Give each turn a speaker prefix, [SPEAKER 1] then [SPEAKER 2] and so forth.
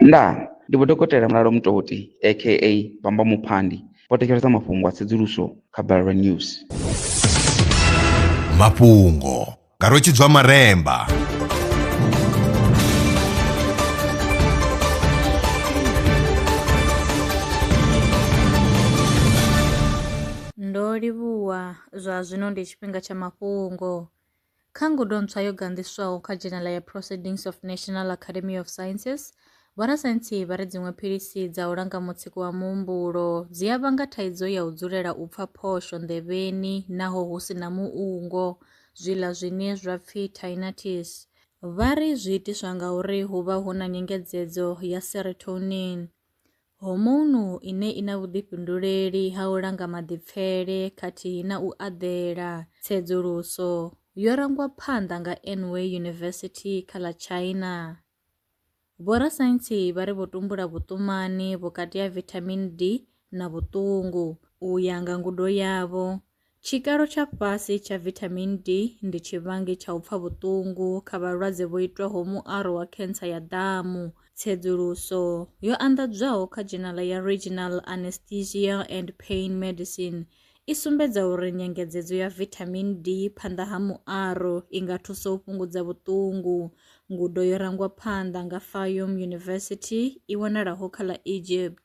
[SPEAKER 1] Ndaa! Ndi Vho Dokotela Mulalo Mutoti aka Bamba Muphandi vho thetshelesa mafhungo a tsedzuluso kha Balelwa News.
[SPEAKER 2] Mafhungo nga Rwetshidzwa Maremba.
[SPEAKER 3] Ndo livhuwa, zwa zwino ndi tshifhinga tsha mafhungo. Kha ngudo ntswa yo ganḓiswaho kha dzhenela ya Proceedings of National Academy of Sciences, vhorasaintsi vha ri dziṅwe philisi dza u langa mutsiko wa muhumbulo dzi a vhanga thaidzo ya u dzulela u pfa phosho nḓevheni naho hu si na muungo, zwiḽa zwine zwa pfi tinnitus. Vha ri zwi itiswa ngauri hu vha hu na nyengedzedzo ya serotonin. Hormone ine i na vhuḓifhinduleli ha u langa maḓipfele khathihi na u aḓela. Tsedzuluso yo rangwa phanḓa nga Anhui University kha ḽa China. Vhorasaintsi vha ri vho tumbula vhuṱumani vhukati ha vitamin D na vhuṱungu. U ya nga ngudo yavho, Tshikalo tsha fhasi tsha vithamini D ndi tshivhangi tsha u pfa vhuṱungu kha vhalwadze vho itwaho muaro wa khentsa ya ḓamu. Tsedzuluso yo anḓadzwaho kha dzhenala ya Regional Anesthesia and Pain Medicine i sumbedza uri nyengedzedzo ya vithamini D phanḓa ha muaro i nga thusa u fhungudza vhuṱungu. Ngudo yo rangwa phanḓa nga Fayum University i wanalaho kha ḽa Egypt.